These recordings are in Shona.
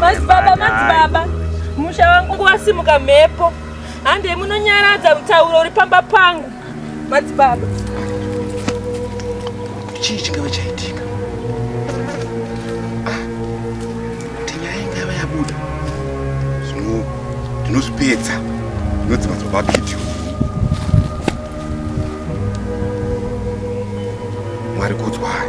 Madzibaba, madzibaba, musha wangu wasimuka mhepo. Hande munonyaradza mutauro uri pamba pangu. Madzibaba. Chii chingava chaitika? Ah. kuti nyaya ingava yabuda zvino ndinozvipedza zvinonzi madzibaba abidio mwari kudzwai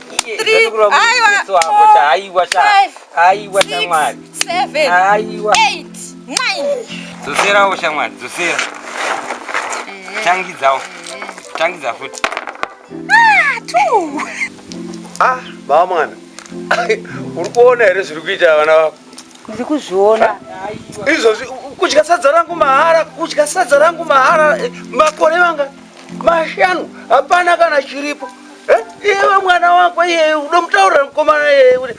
dzoserawo shamwari dzosera eh. tangidzawo tangidza futi ah, ah, baba mwana uri kuona here zviri kuita vana vako ndiri kuzviona ah, izvozvi kudya sadza rangu mahara kudya sadza rangu mahara eh, makore vanga mashanu hapana kana chiripo iwe mwana wako iye unomutaurira mukomana iye kuti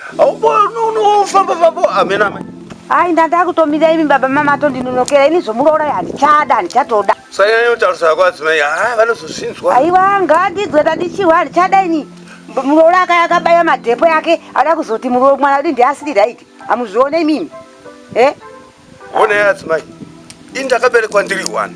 aufamba famba hamena mai hayi ndandakutomira imi baba mama atondinonokera ini zvomuroora handichada handichatoda sanyanya kutaurisa yako adzimai ha vanozozvinzwa aiwa ngaandidzwe tandichiwa handichada ini muroora aka akabaya madhepo yake ada kuzoti mwana udi ndiasiri right hamuzvione imimi e eh? Honai adzimai, ini ndakaberekwa ndiri one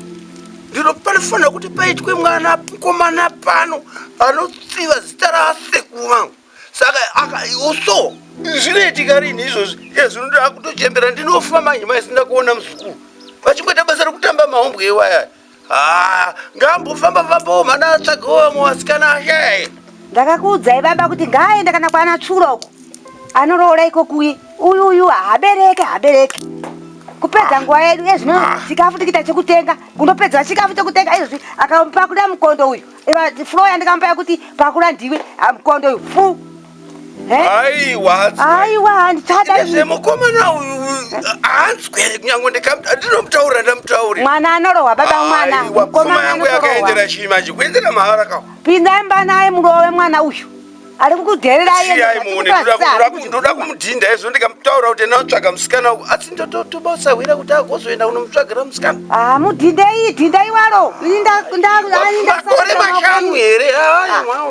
ndiro panofanira kuti paitwe mwana mkomana pano anotsiva zita raasekuru vangu saka akaiuso zvinoitika rini izvozvi ezvinoda kutochembera ndinofa manje maisinda kuona muzukuru vachingoita basa rekutamba mahombwe iwayaya Ah, ngambofamba fambawo mhana atsvagawo vamwe vasikana ashaye. ndakakuudzai baba kuti ngaaende kana kwana tsvuro uko anoroora ikokuye uyu uyu habereke habereke kupedza nguva yedu ezvino chikafu tikita chekutenga kundopedza chikafu chekutenga izvozvi akapakuda mukondo uyu Iva- flo yandikamupaya kuti pakura ndiwe ah, mukondo uyu fu aiwa aiwa handichada izvi mukomana uyu hanzwe nyango ndikamuta ndinomutaurira ndamutaurira mwana anorohwa baba mwana mukomana yangu yakaendera chii manje kuendera mahara kawo pindai mba naye murove mwana uyu ari kukudeeraimuonendoda kumudhinda izvo ndikamutaura kuti enda utsvaga musikana uku asi ndotobasahwira kuti agozoenda unomutsvagira musikana ah, mudhindei dhindai waro makore mashanu here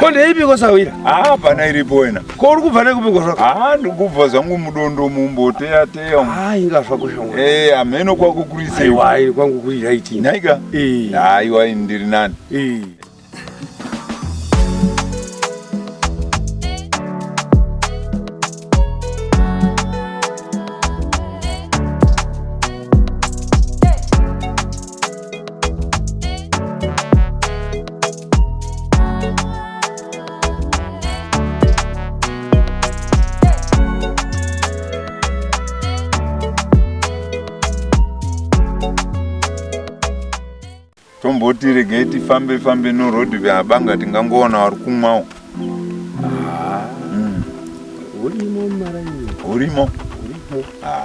Ko ndeipi kosawira? Ah, pana iripo wena. Ko uri kubva nekupi kosawira? Ah, ndikubva zvangu mudondo mumbo teya teya. Ah, inga zvako shongo. Eh, ameno kwako kuri sei? Aiwa, iri kwangu kuri right. Naika? Eh. Aiwa, ah, ndiri nani? Eh. tomboti regai tifambe fambe norhodhi veabanga tingangoona vari kumwawo ah. hmm. hurimo maraini hurimo hurimo ah.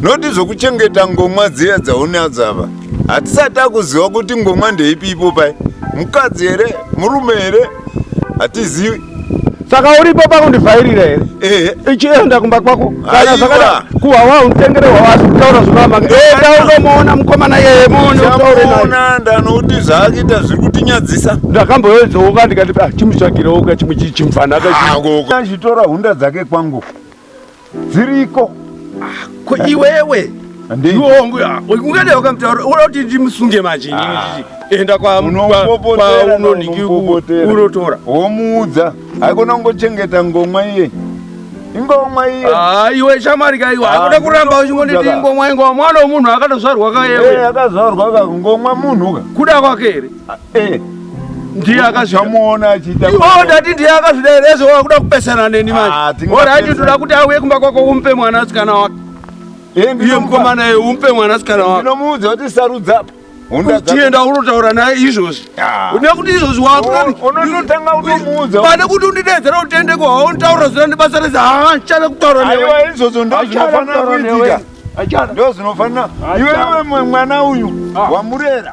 noti zvokuchengeta ngomwa dziya dzaunadzo ava hatisati akuziva kuti ngomwa ndeipi ipo pai mukadzi here murume here hatizivi saka uripo pakundivhairira here ehe ichienda kumba kwako kana Aiwa. zvakada kuhwawa unditengere hwawa asi kutaura zvinoramba enda undomuona mukomana yeye muone utaure naye chamuona ndanoti zvaakita zviri kutinyadzisa ndakamboyedzooka ndikati ah, chimutsvagireoka chimwe chimfanaka Ah, ngoko. achitora hunda dzake kwangu dziriko ah, ko iwewe ndiongu ungade wakamutaura unoda kuti ndimusunge manje ah. enda kwaunondikiunotora womuudza haikona kungochengeta ngomwa iye ingomwa iye ah, iwe shamari kaiwa hakuda kuramba uchingonditi ingomwa ingomwa mwana wemunhu akatozvarwa kaewe eh, akazvarwa ka ngomwa munhu ka kuda kwake here Eh, ndiye akazvamuona achiita oh, ndati ndiye akazvida here ezvo wakuda kupesana neni manje orati ndoda kuti auye kumba kwako umpe mwana asikana wake eh, iye mukomana ye umpe mwana asikana wake ndinomuudza kuti sarudza tienda unotaura naye izvozvi ah. une kuti izvozvi wakupanekuti oh, kuti undidedzera utende kuhaontaura zira ndibasa rese haa chana kutaura neweizvozvo ndozvinofanira kuitika ndozvinofanira iwewe mwana uyu ah. wamurera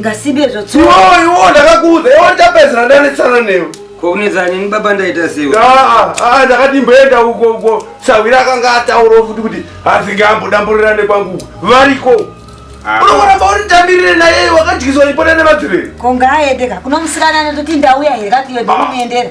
Ngasibe zvotsoka. Iwo iwo ndakakuudza iwo ndapedzera ndanetsana newe. Ko unetsa nini baba ndaita sewe. Ah ah ndakati mboenda uko uko. Sawira akanga ataura futi kuti asingambo damburirane kwangu. Variko. Ah. Unoona bauri tambirire naye wakadyiswa ipona nemadzire. Ko ngaaende ka. Kunomusikana anototi ndauya here kati yodini ah. muendera.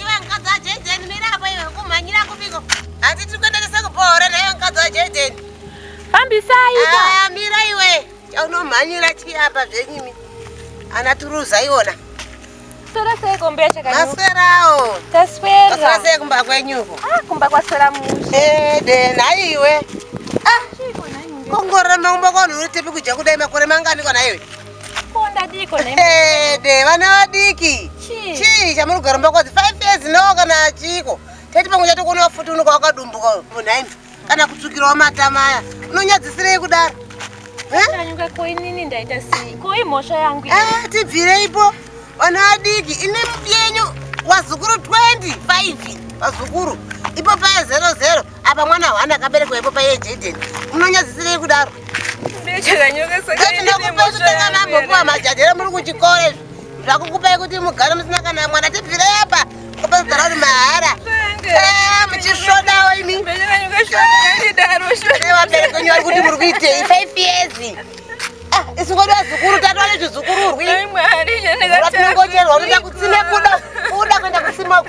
Iwe mkadzi wa Jaden mira hapo iwe kumhanyira kupiko. Hati tiri kuenderesa kubohora naye mkadzi wa Jaden. Fambisai. Ah, mira iwe. Chaunomhanyira chii apa zvenyimi. Ana turuza iona. Tora sei kombe yacho kanyu. Maswerawo. Taswera. Taswera sei kumba kwenyuko. Ah, kumba kwaswera mushe. Eh, de nayi iwe. Ah. Kongora maumba kwanu uri tepi kudya kudai makore mangani kona iwe. Ede vana vadiki chii chamuri kugara mumba kwadzi five years no kana chiiko teti pamwe chati kuona vafuti unoka wakadumbuka munhaimi kana kutsukirawo matama aya unonyadzisirei kudaro eh, tibvireipo vana vadiki ine mubyenyu vazukuru 25 vazukuru ipo paya zero zero apa mwana hwani akaberekwa ipo paiye jaden munonyadzisirei kudaro ndinokupakutenga mambopuwa majadhera muri kuchikoro izvi zvakukupai kuti mugare musina kana mwana tibvire apa kopazara uri mahara eh, muchisvodawo imi vabereki wenyu vari kuti muri kuitei five years ah, isingoda vazukuru tatova nezvizukururwi ratinongocherwa unoda kutsime kuda kuda kuenda kusimoko